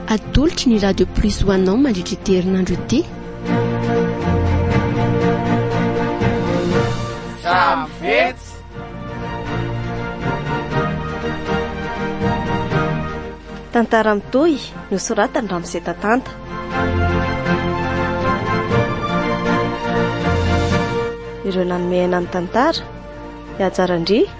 Atolotry ny Radio Plus ho anao mandritra ity herinandro ity. Samvets. Tantara mitohy nosoratany Ramose Tatanta. Ireo nanome aina amin'ny tantara, Ihajarandria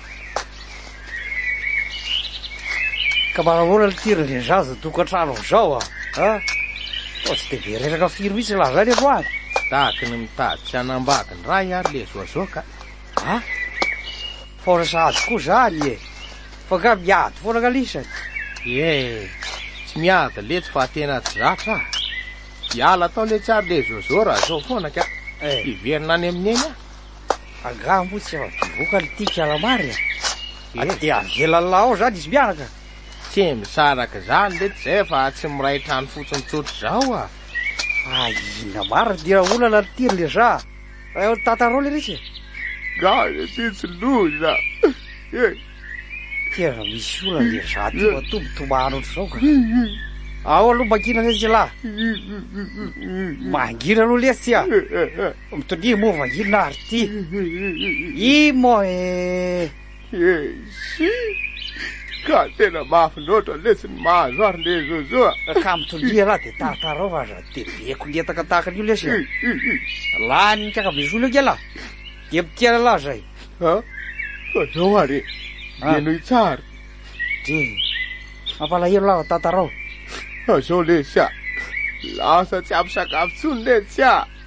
Ka mba nahoana le tir ndry zaza tokantrano amzao a? Ha? Sao tsy de be reraka firy mihitsy lazainy aloha an? Tahaky ny mitady tsy hanambady ny ray ary le zoazoa ka. Ha? Faona sahady koa zany e. Fa nga miady foana nga lisany. Ie, tsy miady letsy fa tena tsy zatra a. Hiala tao letsy ary le zoazoa raha zao foana ka. Eh. Hiverina any amin'eny a. Angaha moa tsy efa bevoka ny tika Ramary a? Ady dia avelan'la ao zany izy miaraka? Tsy misaraka zany lety zay fa tsy miray trano fotsiny tsotra izao a! Fa inona marina dia olana ny tir le za? Fa eo ny tantarao le ritsy e! Gaga ity tsy loza e! Tena misy olana le za ty matoa mitomany ohatr'izao ka! Ao aloha mangina letsy la! Mangina aloha letsy a! Mitoniha moa va inona ary ity? I moa eh! Esi! Ka tena mafy loatra lesy ny mahazo ary le Zozo a! Ah. Ka mitoniha lah dia taratarao fa aza tebeko ny entaka tahaka an'io lesy a! Lany ny kakabesola ange lah! Dia mitehana lah zay! Ah, fa zao ary e! Ah. Dia nohy tsara! Dre! Mampalahelo lah tantarao! Fa zao lesy a! Lasa tsy ampy sakafo tsony letsy a!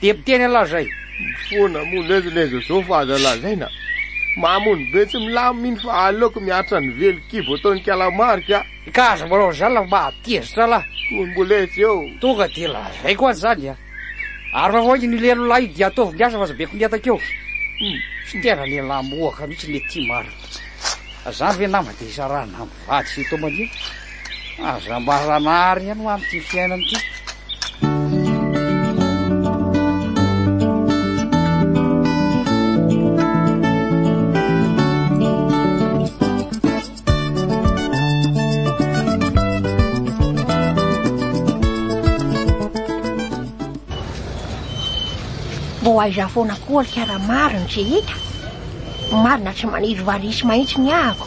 Dia tena lazay. Mifoana moa lez lez zao fa aza lazaina mamony be tsy milamin mino fa aleoko miaritra ny velo kibo ataony kalamarika a. Ka aza manao an'izany la mba tezitra la. Koa mbola etsy eo. Tonga dia lazaiko azy zany a. Ary raha hoy ny lelo lahy dia ataovy ny asa fa aza be koniataka eo. Hum. Tsy tena lehilahy mohaka mihitsy le ty marina. Zany ve nama dia isarahana aminy. Vady sy tombandriaka, aza mba ranary ihany ho amin'ity fiainana ity. Ho aiza foana koa ry Karamarina tsy hita? Marina tsy maniry variana mahitsy ny ahako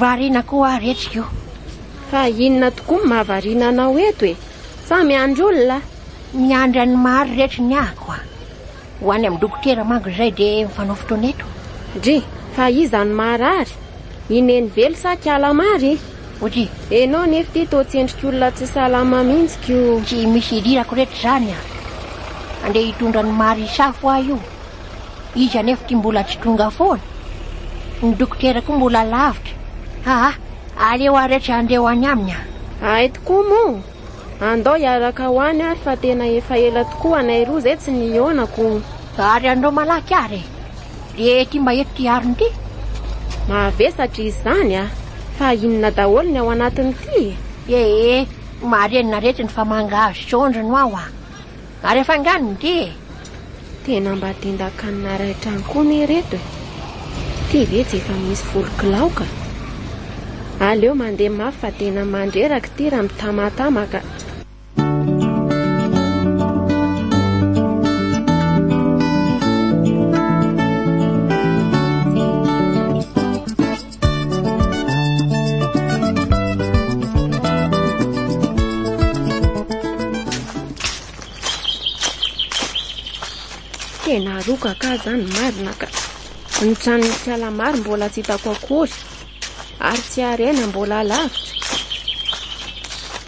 Variana koa ary eto io. Fa inona tokoa no mahavariana anao eto e? Sa miandry olona? Miandry an'i Mary reto ny ako a! Ho any amin'ny dokotera manko izay dia mifanao fotoana eto. Dry, fa iza no marary? I Nenivelo sa kiala Mary? Ody, enao nefa ity toa tsy endrik'olona tsy salama mihitsy ko. Tsy misy idirako reto izany a! Andeha hitondra an'i Mary hisafo ahy io. Izy anefa ity mbola tsy tonga foana. Ny dokotera koa mbola lavitra. Aa, aleo ary tsy andeo any aminy aho. Hay tokoa moa. Andao hiaraka ho any ary fa tena efa ela tokoa anay roa izay tsy nihaonako. Ary andao malaky ary e. Dia ety mba eto ity arina ity. Mavesatra izy izany a! Fa inona daholo ny ao anatiny ity e? Ee, marenina reto ny famanga azy sy ondry no ao a! Ary afangano ny dia e! Tena mba tendan-kanina iray trano koa anie ireto e! Ity ve tsy efa misy folo kilao ka! Aleo mandeha mafy fa tena mandreraka ity raha mitamatama ka! Tena aroka ka zany marina ka. Ny tranon'ny fiala maro mbola tsy hitako akory ary tsy harena mbola lavitra.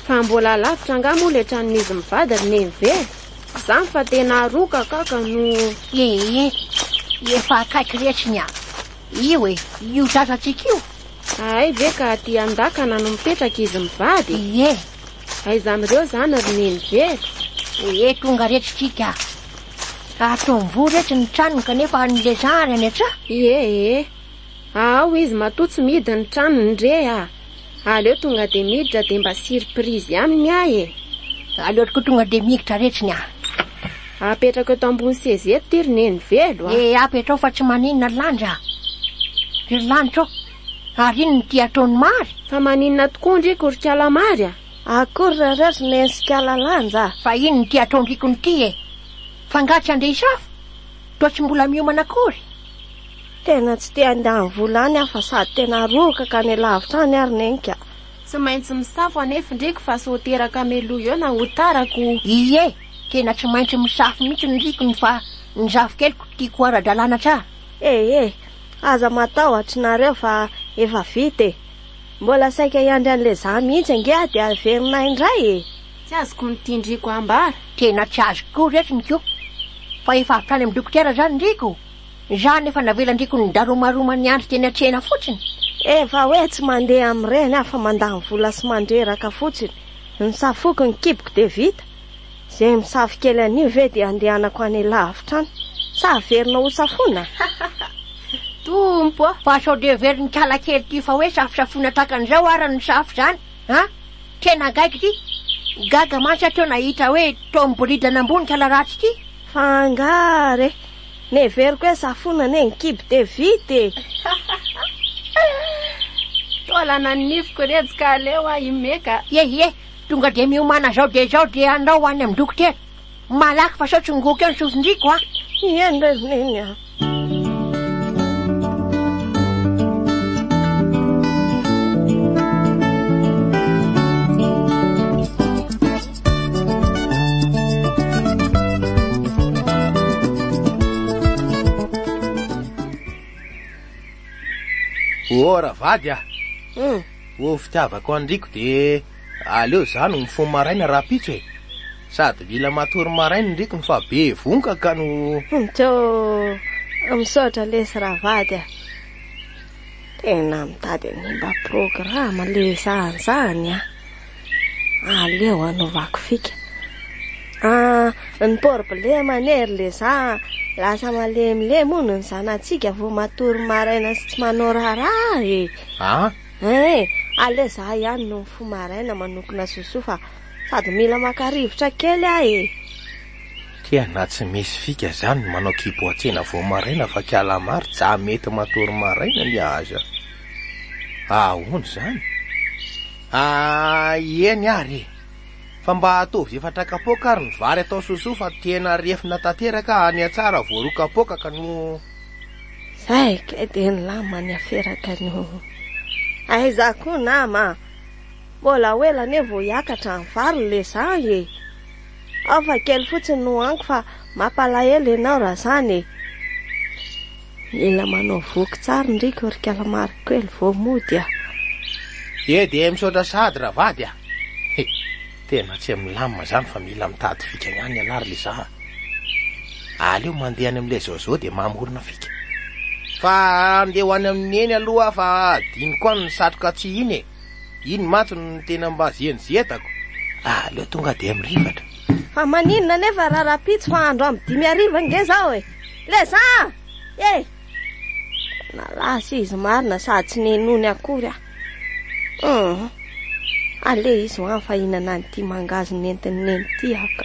Fa mbola lavitra nga moa le tranon'izy mivady ry neve. Zany fa tena aroka ka ka no Ee, efa akaiky retsy ny ahy. Io e, io zazatsika io. Ahay ve ka aty an-dakana no mipetraka izy mivady e? Ie. Aiza amin'ireo izany ry Neny be? Ee, tonga reto isika. Ato Amboa reto ny tranony kanefa an'i Leza ary any an-tsaha? Ie ee. Ao izy matoa tsy mihidy ny tranony re a! Aleo tonga dia miditra dia mba surprise aminy aho e! Aleo tokoa tonga dia miditra retsiny aho! Apetrako eto ambony seza eto ity ry Neny velo a! Eh, apetraho fa tsy maninona ry Landy a! Ry Lanitra ô! Ary inona ity ataon'i Mary? Fa maninona tokoa an-driako ry kala Mary a! Akory ry rareo ry Neny sy kala Landy a! Fa inona ity ataon-driakony ity e! F'angaha tsy handeha hisafo? Toa tsy mbola miomana akory? Tena tsy te handeha any vola any aho fa sady tena rohoka ka any lavitra any ary Neny a! Tsy maintsy misafo anefa ndriko fa sao teraka meloa eo na ho tara ko! Ie, tena tsy maintsy misafo mihitsy ndriko ny fa ny zafikeliko tiako ho ara-dalàna tsara! Ee, aza matahotra nareo fa efa vita e! Mbola saika hiandry an'i Lezaha mihitsy ange aho dia averina indray e! Tsy azoko ny tian-driko hambara! Tena tsy azoko koa retsy ny ko! Fa efa avy tany amin'ny dokotera izany ndriko! Izaho nefa navelan-driko nidaromaroma niandry teny an-tsena fotsiny. Efa hoe tsy mandeha amin'ireny aho fa mandany vola sy mandreraka fotsiny. Ny safoko, ny kiboko dia vita. Izay misafo kely anio ve dia andehanako any lavitra any? Sa averina ho safoina? Tompo a! Fa sao dia heverin'ikala kely ity fa hoe safosafoina tahaka an'izao ara ny safo izany a! Tena gaigy ity! Gaga mantsy aho teo nahita hoe toa miboridana ambony ikala ratsy ity. Fa angaha re! Neveriko hoe za fona anie ny kibo dia vita e! Toa lana ny nifiko rejy ka aleo aho himeka. Ye ye, tonga dia miomana zao dia zao dia andao any amin'ny dokotera. Malaky fa sao tsy migoka eo ny sofin-driako a! Ye ndray ry Neny a! Oh ravady ah hmm. oh fitiavako andriko dia aleo za no mifono maraina raha pitso e sady mila matory maraina ndriko ny fa be vonka ka no hmm, to misaotra lesy ravady ah tena mitady ny mba programa le zany zany ah Aleo anaovako fika. Ah, ny problema anie ry le za lasa malemilemy hono ny zanatsika vao matory maraina sy tsy manao raharaha e. Ah? Eh, aleo za ihany no mifoha maraina manokona sosoa fa sady mila maka rivotra kely aho e. Tia na tsy misy fika zany ny manao kibo an-tsena vao maraina fa calamar tsa mety matory maraina ny aza. Ahoana izany? Aah eny ary e! Fa mba ataovy efa trakapoaka ary ny vary atao sosoa fa tena refina tanteraka any atsara voaroa kapoaka ka no. Zay kay dia ny lamany aferaka ny ho aiza koa nama a! Mbola ho ela anie vao hiakatra ny vary le zah e! Ao fa kely fotsiny no hohaniko fa mampalahelo ianao raha zany e! Mila manao voky tsara ndry korikala marc kely vao mody a. Dia dia misaotra sahady ravady a. He, tena tsy milamina izany fa mila mitady fika ihany ialahy ry Liza a. Aleo mandeha any amin'ilay Zozo dia mamorona fika. Fa andeha ho any amin'i Neny aloha aho fa adinoko any ny satroka tsy iny e. Iny mantsy no tena mba zienyziedako ah aleo tonga dia mirifatra. Fa maninona nefa raha rahampitso fa andro amin'ny dimy hariva ange zao e. Leza a! E! Nalaza izy marina sady tsy nenony akory aho. Hum. Aleha izy ho any fa hinana an'ity mangahazo nentin'ny neny ity aho ka.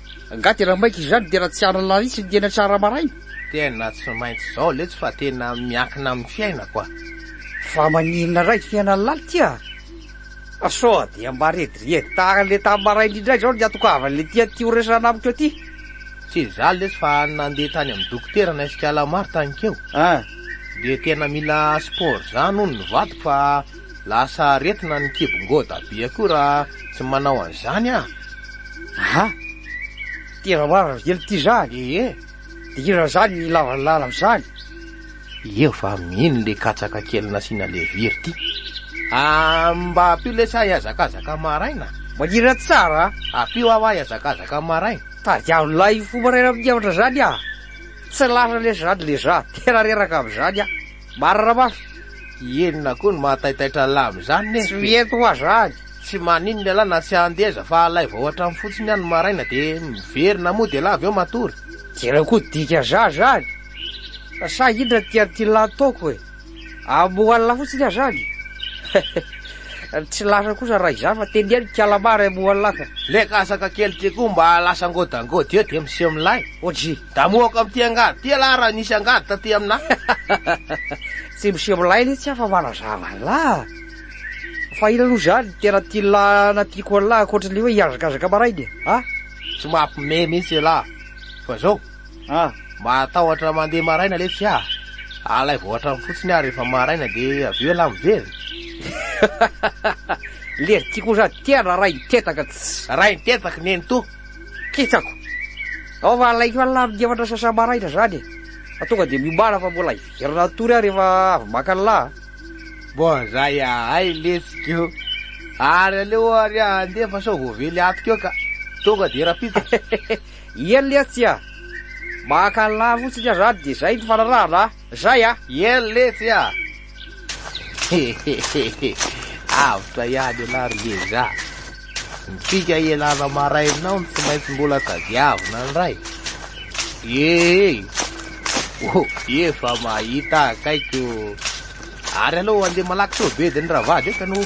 Nga tena maika izany dia raha tsy hanana lahitsy ny tena tsara maraina? Tena tsy maintsy izao letsy fa tena miankina amin'ny fiainako a! Fa maninona raha ity fiainan'ny laly ity a! Fa sao dia mba rediredy tahaka an'ilay tamin'ny maraina indray izao ny hatokavan'ilay tian'ity ho resahana amiko ity? Tsy izaho letsy fa nandeha tany amin'ny dokotera naisy kala maro tany keo. An! Dia tena mila sport izany hono ny vadiko fa Lasa aretina ny kibongô dabe koa raha tsy manao an'izany an! Aha! Tena marina ry kely ty zany e! Dia inona zany ny ilavan'ny lala amin'izany? Eo va mino le katsaka kely nasiana levire ty? Ah, mba ampio lesy aho hiazakazaka maraina! Manirina tsara a! Ampio aho aho hiazakazaka maraina! Tadiavo lahy fo maraina amin'ny hevitra zany aho! Tsy lasa lesy zany le za! Tena reraka amin'izany aho! Marina mafy! Inona koa no mahataitaitra an'lah amin'izany neh? Tsy mety hoa zany! Tsy maninona elah na tsy handeha aza fa alaivo ao an-trano fotsiny any ny maraina dia miverina mody elah avy eo matory! Tena koa dika zah zany! Fa sa inona ny tian'ity lah ataoko e? Hamoha an'lah fotsiny aho zany e! Tsy lasa kosa raha izany fa tenia ny kala mara hamoha an'lah ka! Le katsaka kely ty koa mba lasa ngodangoda eo dia miseho milay! OJ. Damohako amin'ity angady ty ialahy raha nisy angady taty aminà. Tsy miseho milay le tsy afa manazava an'lah. Fa inona aloha izany tena tian'lah na tiako an'lah ankoatran'le hoe hihazakazaka maraina e. A? Tsy mampime mihitsy ialahy. Fa zao, A? mahatahotra mandeha maraina le tsy ahy. Alaivo hatrany fotsiny aho rehefa maraina de avy eo ialahy miverina. Lery ty koa zany tia na rainy tetaka tsy. Rainy tetaka nenitoa. Kitsako. Ao fa alaiko any lahy migefa andra sasa maraina zany e. Fa tonga dia miomana fa mbola hiverina hatory aho rehefa avy maka ny lahy. Bon zay ahay letsika eo. Ary aleo ary aho handeha fa sao voavely ato keo ka. Tonga dia rapitsa. Eny letsy a. Maka ny lahy fotsiny aho zany dia zay ny fanarahana a. Zay a! Iel letsy a! Hehehehe! Avotra ihany ialahy ry Ngeza a! Ny fika ialana maraina ao no tsy maintsy mbola tadiavina indray! Ee! Oh! Efa mahita akaiky o! Ary aleo handeha malaky sao bedin'ny ravady eka no.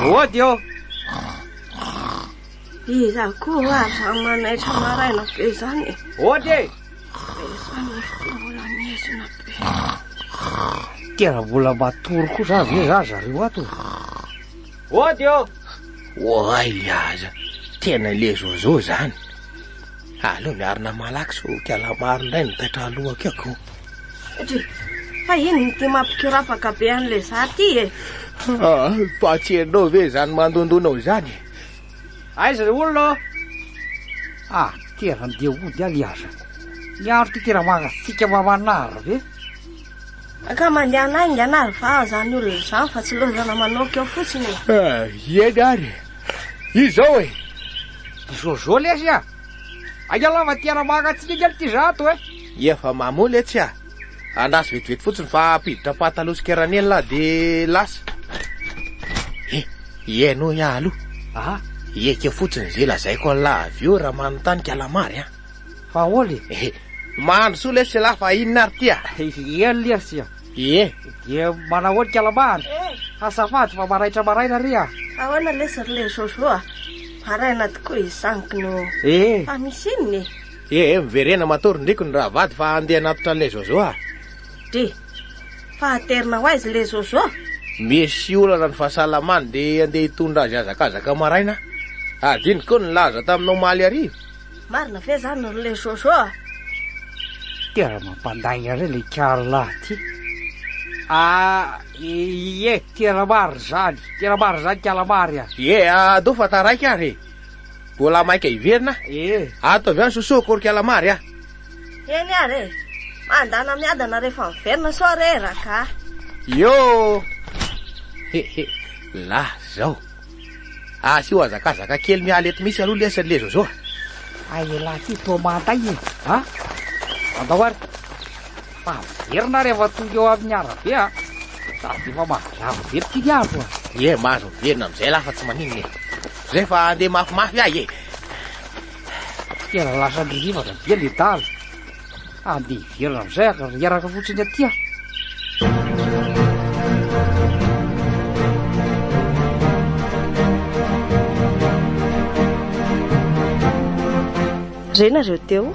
Mody ô! Iza koa aza manaitra maraina be izany e? Ody e! Tena mbola matory koa za ve za zareo ato Ody ô Oay le aza Tena le zozo zany Aleo miarina malaky so kiala maro indray ny taitra alohako ako Satria fa iny ny ty mampikorafaka be an'le za ty e ah, Fa tsy enao ve zany mandondonao zany Aiza le olona ô? Ah, ty ary andeha hody aho liaza. Ny andro ty tena mangatsiaka mamanaro ve? Ka mandehana haingana ary va zany olona zany fa tsy lozana manoaka eo fotsiny e. Ah, ieny ary. Izao e. Jojo lesy a. Aiza lava ty ara-mangatsiaka kely ty zato e. Efa mamoa letsy a. Andraso vetivety fotsiny fa ampiditra pataloha sy keranelina aho dia lasa. He, ihaino ahy aloha. Aha. Hiaika fotsiny izay lazaiko an'lah avy eo raha manontany kalamary an. Fa ahoana e? He, mahandro soa lesy lah fa inona ary ity a? Ie lesy a. Ie. Dia manao ahoana kalamary? Azafady fa maraitra maraina re a. Ahoana lesy ry le Jojo a? Maraina tokoa izany kno. Ee. Fa misy inona e? Ee, miverena matoa ry ndriko ny rahavady fa handeha hanatitra an'ilay Jojo aho. Dry, fa haterina ho aiza ilay Jojo? Misy olana ny fahasalamany dia handeha hitondra azy hazakazaka maraina aho. Adinoko ny nilaza taminao omaly hariva. Marina ve izany ry le Jojo a? Tena mampandainga re le Karla ty. Ah, ie, tena marina izany, tena marina izany Kalamary a. Ie, adoo fa taraiky ary e. Bola maika hiverina? Ee. Ato avy any Sosoa, Korikala Mary a! Eny ary e! Mandana miadana rehefa miverina sao re ragah! Iô! He he! La zao! Asio hazakazaka kely miala eto mihitsy aloha lesy ry le Zôzô a! Ay elah ty toa manday e! A! Andao ary! Fa miverina rehefa tonga eo amin'ny arabe a! Sady efa mahagravo be ity ny andro a! Ie, mahazo miverina amin'izay lah fa tsy maninona e! Zay fa andeha mafimafy ahy e. Tena lasa nirivaka be le daly. Andeha hiverina amizay aka ry hiaraka fotsiny aty aho. Re nareo teo.